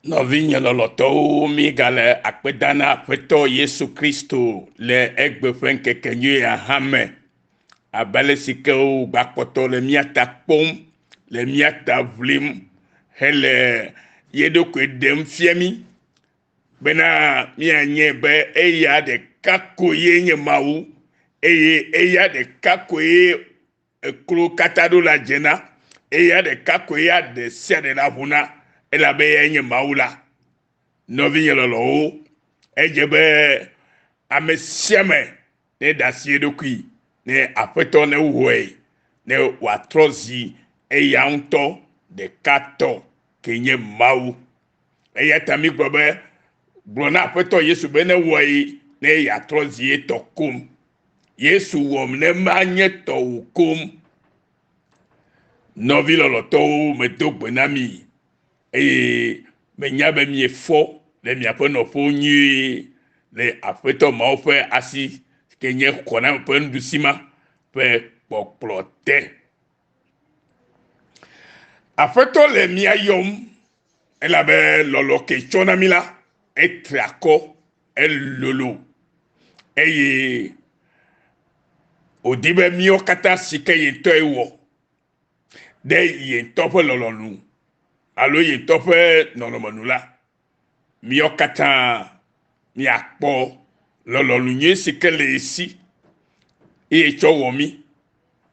Nɔvinye lɔlɔtɔwo mígale akpeda na Aƒetɔ Yesu Kristo le egbe ƒe ŋkekenyui hã me, abe ale si ke wògbakpɔtɔ le mía ta kpɔm, le mía ta ʋlim hele ye ɖokui ɖem fia mí bena míanyɛ be eya ɖeka koe nye Mawu eye eya ɖeka koe Eklo katã ɖo la dzena, eye ya ɖeka koe ya ɖe sia ɖe naʋu na, elabe eyae nye Mawu la. Nɔvinye lɔlɔ̃wo, edze be ame sia ame neɖe asi eɖokui ne Aƒetɔ ne wohɔe, ne wòatrɔ zi eya ŋutɔ ɖeka tɔ ke nye Mawu. Eya ta mígblɔ be, Gblɔ na Aƒetɔ Yesu be newɔe ne yeatrɔ zi etɔ koŋ. Yesu wɔm ne manye tɔwò kom. Nɔvi lɔlɔtɔwo medo gbe na mi eye menya be miefɔ le miaƒe nɔƒewo nyuie le Aƒetɔ Mawu ƒe asi ke nye xɔname ƒe nuɖusi ma ƒe kpɔkplɔ te. Aƒetɔ le mia yɔm elabe lɔlɔ ke tsɔ na mi la etre akɔ elolo eye wòdi be míawo katã si ke ye ŋutɔe wɔ ɖe ye ŋutɔ ƒe lɔlɔ̃nu alo ye ŋutɔ ƒe nɔnɔme nu la miawo katã miakpɔ lɔlɔ̃nu nyui si ke le ye si eye tsɔ wɔ mí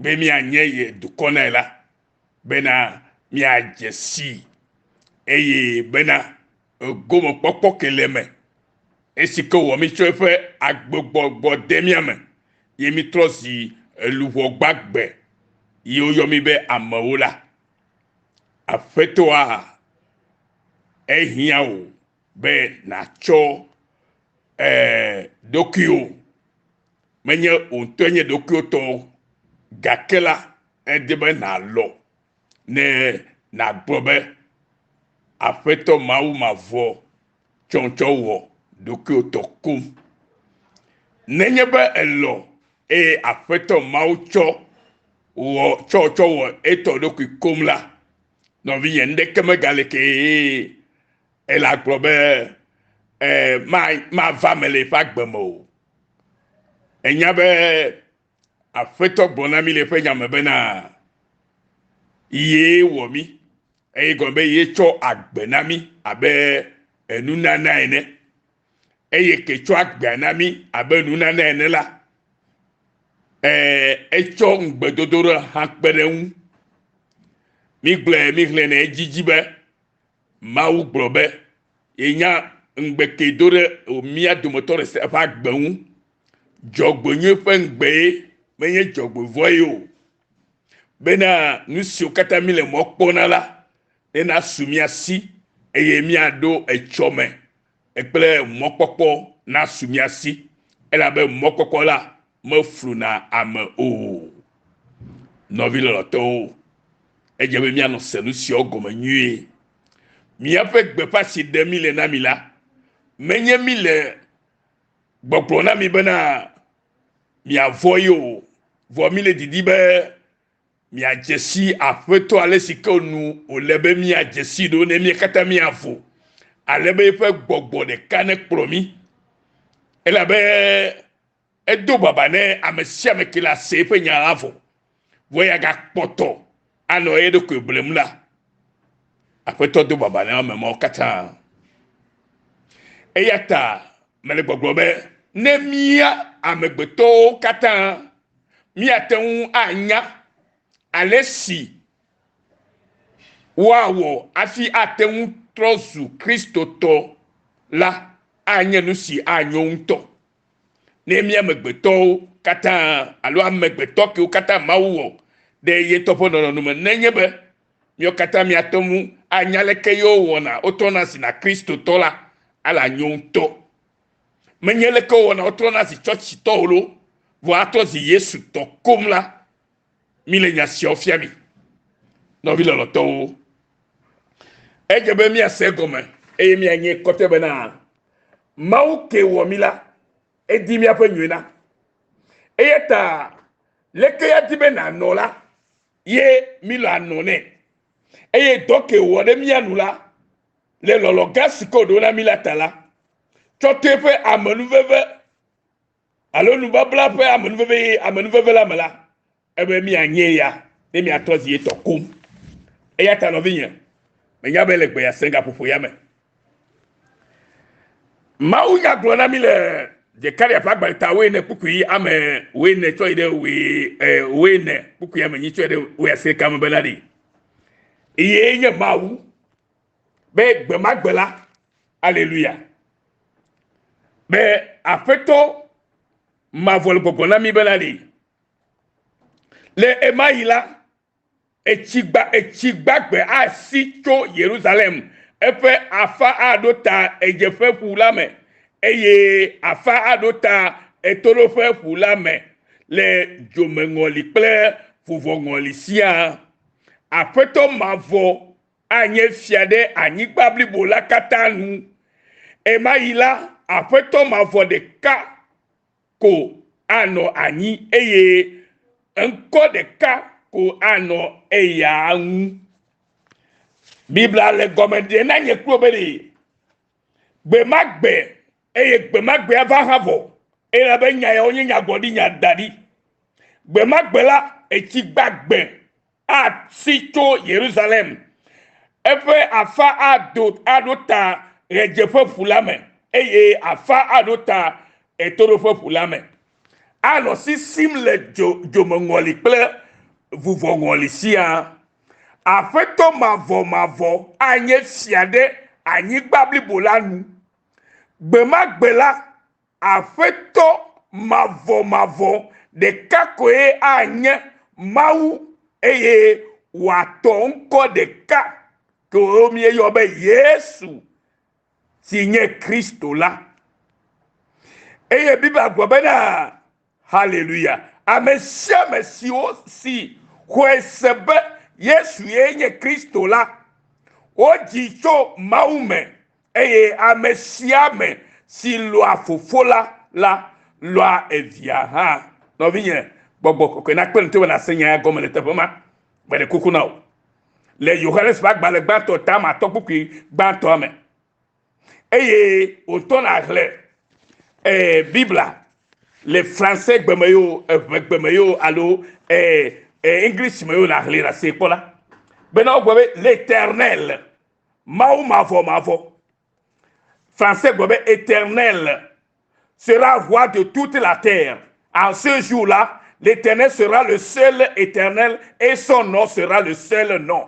be mianye ye dukɔ nɛ la, bena miadze sii eye bena gomekpɔkpɔ ke le eme, esi ke wɔ mí tso eƒe agbegbɔgbɔ de mía me, ye mítrɔ zi luʋɔ gbagbe, ye woyɔ mí be amewo la. Aƒetɔa, ehiã wò be nàtsɔ ee ɖokuiwò, menye wò ŋutɔ nye ɖokuiwò tɔ o, gake la, edi be nàlɔ ne nàgblɔ be, Aƒetɔ Mawu mavɔ tsɔtsɔ wɔ ɖokuiwò tɔ koŋ. Nenye be èlɔ̃ eye Aƒetɔ Mawu tsɔ wɔ tsɔtsɔ wɔ etɔ ɖokui koŋ la, nɔvinye nuɖeke megale kee ele agblɔ be ee mava me le eƒe agbe me o. Ènya be Aƒetɔ gblɔ na mí le eƒe nya me bena ye wɔ mí eye gɔme be ye tsɔ agbe na mí abe enunana ene eye ke tsɔ agbea na mí abe enunana ene la ee etsɔ ŋugbedodo ɖe hã kpe ɖe ŋu. Mígblɔe míxlẽnɛ edzidzi be Mawu gblɔ be yenya ŋugbetee do ɖe mía dometɔ ɖe sia ɖe ƒe agbe ŋu. Dzɔgbenyui ƒe ŋugbee menye dzɔgbevɔ̃e o, bena nu siwo katã míle mɔ kpɔ na la nenasu mía si eye míaɖo etsɔ me kple mɔkpɔkpɔ nasu mía si, elabe mɔkpɔkpɔ la mefluna ame o. Nɔvi lɔlɔtɔwo, edze be míanɔ se nu siawo gɔme nyuie. Míaƒe gbeƒã si ɖe mí le na mi la, menye mí le gbɔgblɔ na mi bena miavɔ ye o, vɔ mí le didi be miadze si Aƒetɔ ale si ke nu wòle be miadze si ɖo ne mía katã miavo, ale be eƒe gbɔgbɔ ɖeka nekplɔ mí. Elabe Edo baba ne ame sia ame ke le ase ƒe nya la vɔ, vɔ ya gakpɔtɔ anɔ eye ɖokui blem la. Aƒetɔ do baba ne ame mawo katã. Eya ta mele gbɔgblɔ be ne mía amegbetɔwo katã míate ŋu anya ale si woawɔ afi ate ŋu trɔ zu Kristotɔ la, anye nu si anyo ŋutɔ. Ne mía amegbetɔwo katã alo amegbetɔ kewo katã Mawu wɔ ɖe ye ŋutɔ ƒe nɔnɔnu me nenye be míawo katã míate ŋu anya leke yewo wɔna wotrɔna zi na Kristotɔ la, ale anyo ŋutɔ. Menye leke wo wɔna wotrɔna zi tsɔtsitɔ o loo, vɔ atrɔ zi Yesu tɔ koŋ la, mi le nya siawo fia mi nɔvi lɔlɔtɔwo edze be miase gɔme eye mianye kɔte bena mawu ke wɔ mi la edi miaƒe nyuie na eya ta leke ya di be nanɔ la ye mi le anɔ nɛ eye dɔ ke wɔ ɖe mia nu la le lɔlɔ gã si ke wòɖo na mi la ta la tsɔ to eƒe amenuveve alo nubabla ƒe amenuveve amenuveve la me la, ebe mianye ya ne miatɔ zi etɔ koŋ. Eya ta nɔvinye, menya be le gbe ya senga ƒoƒo ya me. Mawu nya gblɔ na mi le Zekaria ƒe agbalẽ ta woe ne kpukpui ame woe ne tsɔ yi ɖe woe eh, woe ne kpukpui ame nyi tsɔ yi ɖe woe aseka me bena ɖi. Eye nye Mawu be gbe ma gbe la aleluya be aƒetɔ mavɔ le gbɔgbɔ na mi bena li le ema yi la etsi gba etsi gbagbe asi tso yerusalem eƒe afa aɖo ta edzeƒe ƒu la me eye afa aɖo ta etoɖoƒe ƒu la me le dzomeŋɔli kple vuvɔŋɔli siaa aƒetɔ mavɔ anye fia ɖe anyigba blibo la katã nu. Ɣemaɣi la, aƒetɔ mavɔ ɖeka ko anɔ anyi eye ŋkɔ ɖeka ko anɔ eya ŋu. Biblia le gɔme ɖem na nye kplo be ɖee gbe ma gbe eye gbe ma gbea va hã vɔ, elabe nya yawo nye nyagblɔɖinya da ɖi. Gbe ma gbe la, etsi gbagbe Atsi tso Yerusalem, eƒe afã ado aɖo ta Ɣedzeƒeƒu la me, eye afã aɖo ta Ɣetoɖoƒeƒu la me. Anɔ sisim le dzo dzomeŋɔli kple vuvɔŋɔli siaa. Aƒetɔ mavɔmavɔ anye fia ɖe anyigba blibo la nu. Gbe ma gbe la, Aƒetɔ mavɔmavɔ ɖeka koe anye Mawu eye wòatɔ ŋkɔ ɖeka koe míeyɔ be Yesu si nye Kristo la. Eye Biblia gblɔ bena haleluya ame sia ame siwo si xɔe se be yesu ye nye kristo la wodzi tso mawu me eye ame sia ame si lɔa fofo la la lɔa evia hã nɔvinye gbɔgbɔ kɔkɔe nakpe nu teƒe nase nya ya gɔme le teƒe ma mele kuku na o le yohanes ƒe agbalẽ gbãtɔ tama tɔ kpukpui gbãtɔa me eye wòtɔ na hle eh, Biblia le fransɛ gbe me yo, eʋe gbe me yo alo eh, eh, English me yo na hle na se kpɔla. Bena wogbe be l'éternel, Mawu mavɔ mavɔ. Fransɛ gbe be éternel sera roi de toute la terre. En ce jour-là, l'éternel sera le seul éternel et son nom sera le seul nom.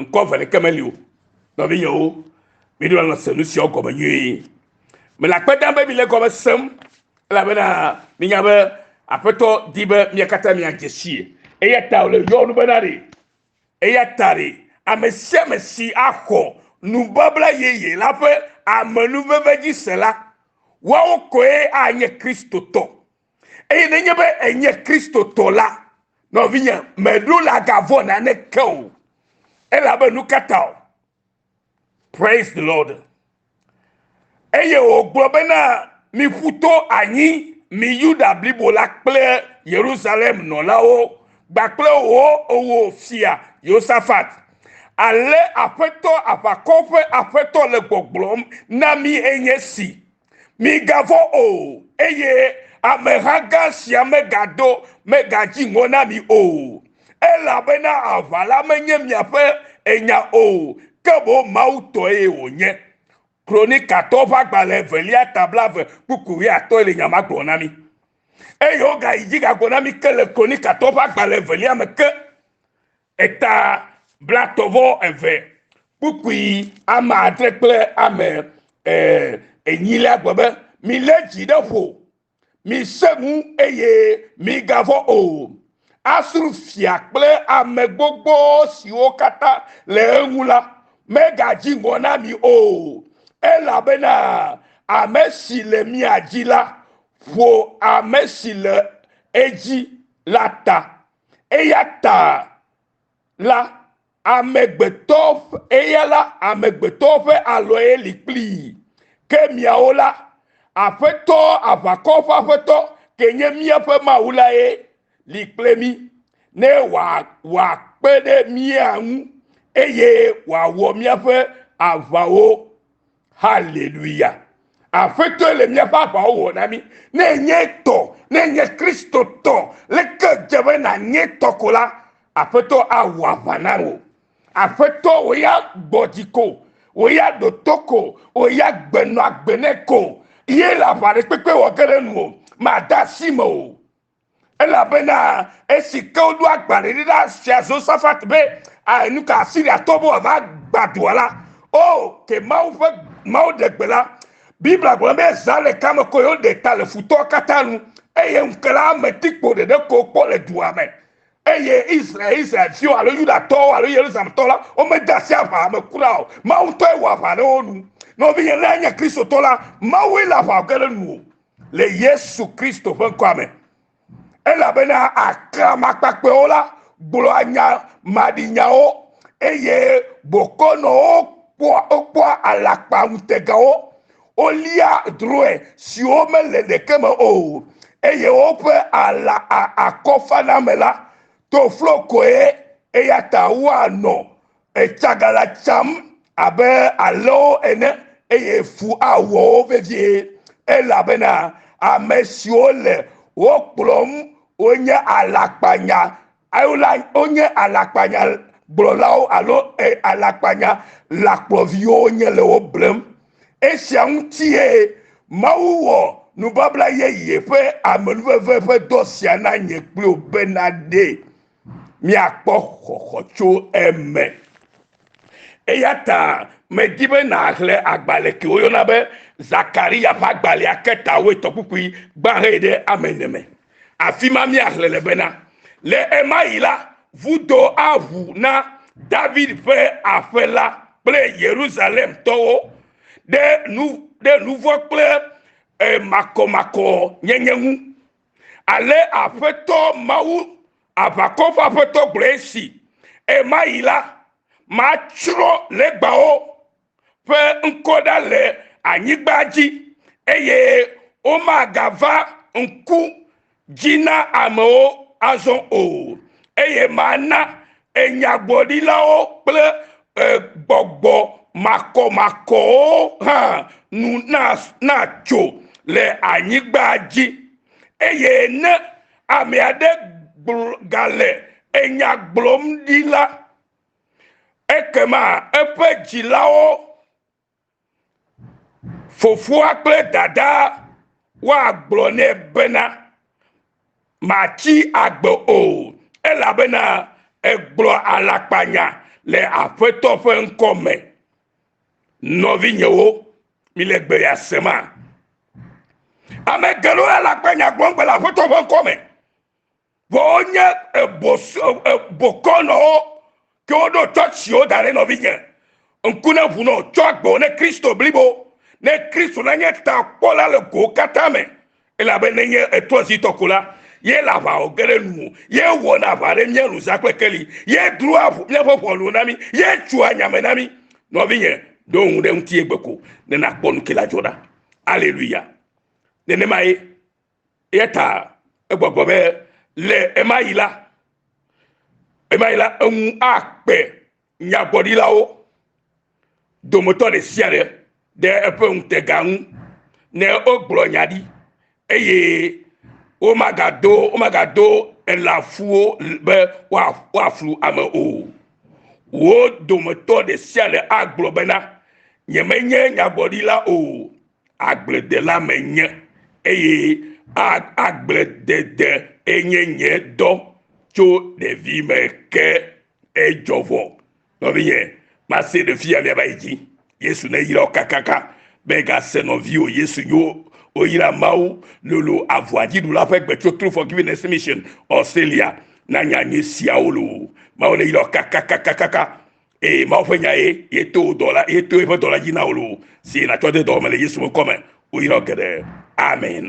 ŋkɔ eve ɖeke meli o nɔvinyewo miɖo la se nu siawo gɔme nyuie mele akpe dam be mile gɔme sem elabena minya be aƒetɔ di be mia katã miadze sie eya ta wòle yɔ nu bena ɖe eya ta ɖe ame sia ame si axɔ nubabla yeye la ƒe amenuveve dzi se la woawo koe anye kristotɔ eye nenye be enye kristotɔ la nɔvinye meɖo le agavɔ naneke o elabe nu ka ta o praise the lord eye wògblɔ bena miƒu to anyi mi yuda blibo la kple yerusalem nɔlawo gbakple wo owó fia yosafat ale aƒetɔ aʋakɔ ƒe aƒetɔ le gbɔgblɔm na mi enye si migavɔ̃ o eye ameha gã sia megado megadzi ŋɔ na mi o elabena aʋa la menye miaƒe enya o ke boŋ mawu tɔe wònye kronikatɔwo ƒe agbalẽ evelia ta blave kpukpui wuiatɔ̃e le nya ma gblɔ na mi eye wogayi dzi gagblɔ na mi ke le kronikatɔwo ƒe agbalẽ evelia me ke Eta blatɔvɔ eve kpukpui ame adre kple ame enyi lé agbe be, Milé dzi ɖe ƒo, misẽ ŋu, eye migavɔ̃ o. Asur fia kple ame gbogbo siwo katã le eŋu la megadzi ŋɔ na mi o, elabena ame si le mia dzi la ƒo ame si le edzi la ta. Eya ta la, amegbetɔ, eya la, amegbetɔwo ƒe alɔe li kplii. Ke miawo la, Aƒetɔ, aʋakɔ ƒe Aƒetɔ, ke nye míaƒe Mawu lae li kple mí, ne wòakpe ɖe mía ŋu, eye wòawɔ míaƒe aʋawo. Haleluya! Aƒetɔe le míaƒe aʋawo wɔ na mí. Ne enye tɔ, ne enye Kristo tɔ, leke dze be nànye tɔ ko la, Aƒetɔ awɔ aʋa na wò. Aƒetɔ wò ya gbɔ dzi ko, wò ya ɖo to ko, wò ya gbenɔ agbe nɛ ko ye le aʋaɖekpekpe wɔ ge ɖe nuwò. Màde asi me o. Elabena esi ke woɖo agbalẽ ɖi na fia Zosafat be nu ka Asiriatɔ be wòava gbã dua la, o, ke Mawu ƒe Mawu ɖe gbe la. Biblia gblɔ be zã le kame ko ye woɖe ta le futɔwo katã nu, eye ŋukela la metikpo ɖeɖe ko wokpɔ le dua me. Eye Israel, Israelviwo alo Yudatɔwo alo Yerusalemtɔwo la, womede asi aʋa me kura o. Mawu ŋutɔe wɔ aʋa ɖe wo nu. Nɔvinye, ne ènye Kristotɔ la, Mawue le aʋa ge ɖe nuwò. le yesu kristo ƒe ŋkɔa me elabena aklamakpakpɛwo la gblɔa nya maɖinyawo eye bokɔnɔwo kpɔa wokpɔa alakpa ŋutegawo wolia drɔe siwo mele ɖeke me o eye woƒe ala akɔfaname la to flo koe eya ta woanɔ Etsa ga la tsam abe alẽwo ene, eye fu awɔ wo vevie, elabena ame siwo le wo kplɔm wonye alakpanya, alo la, wonye alakpanya gblɔlawo alo e, alakpanya lakplɔviwo wonye le wo blem. Esia ŋutie Mawu wɔ nubabla yeye ƒe amenuveve ƒe dɔ sia na nye kpli wò bena ɖee míakpɔ xɔxɔ tso eme. Eya ta medi be nàxlẽ agbalẽ ke woyɔna be Zakaria ƒe agbalẽa ke ta woe tɔkpukpui gbã hɛ ɖe ame ene me. Afi ma míaxlẽ le bena, Le ɣe ma ɣi la, vudo aʋu na David ƒe aƒe la kple Yerusalemtɔwo ɖe nu ɖe nuvɔ̃ kple makɔmakɔnyenye ŋu. Ale Aƒetɔ Mawu, aʋakɔ ƒe Aƒetɔ gblɔe si, Ɣe ma ɣi la, matsrɔ̃ legbawo ƒe ŋkɔ ɖa le anyigba dzi, eye womagava ŋku dzi na amewo azɔ o, eye mana Enyagblɔɖilawo kple gbɔgbɔ makɔmakɔwo hã nu natso le anyigba dzi. Eye ne ame aɖe gale enya gblɔm ɖi la, ekema eƒe dzilawo Fofoa kple dadaa woagblɔ nɛ bena, Màtsi agbe o, elabena ègblɔ alakpanya le Aƒetɔ ƒe ŋkɔ me. Nɔvinyewo, mile gbe ya sema? Ame geɖewo alakpanya gblɔm le Aƒetɔ ƒe ŋkɔ me. vɔ wonye bokɔnɔwo ke woɖo tsɔtsiwo da ɖe nɔvinye ŋku ne ʋu nɔ tsɔ agbe ne kristo blibo ne kristo la nye ta kpɔla le go katã me elabe ne nye etrɔzitɔ ko la ye le aʋa wɔ ge ɖe nuwo ye wɔna aʋa ɖe mía nu za kple keli ye drua ʋu míaƒe ʋɔnuwo na mí ye tsua nyame na mí nɔvinye ɖo ŋu ɖe ŋuti ye gbe ko ne nakpɔ nu ke la dzɔ ɖa aleluya nenema ye eya ta egbɔgbɔ be le ema yi la ema yi la eŋu akpe nyagblɔɖilawo dometɔ ɖe sia ɖe ɖe eƒe ŋutega ŋu ne wogblɔ nya ɖi eye womagado womagado elafuwo be woaflu ame o wo dometɔ ɖe sia ɖe agblɔ bena nyemenye nyagblɔɖila o agbledela menye eye agbledede enye nye dɔ tso ɖevime ke edzɔ vɔ nɔvinye mase ɖe fia miaba yi dzi yesu ne yirɔ kakaka be gase nɔviwo yesu nyo oyira mawu lolo avua dziɖula ƒe gbetso true forgiveness mission australia na nya nye siawo lo mawu ne yirɔ kakakakakaka eye mawu ƒe nya ye yeto wò dɔla yeto eƒe dɔla dzi na wò loo si nàtsɔ de dɔwɔme le yesu ƒe ŋkɔ me woyra geɖe amen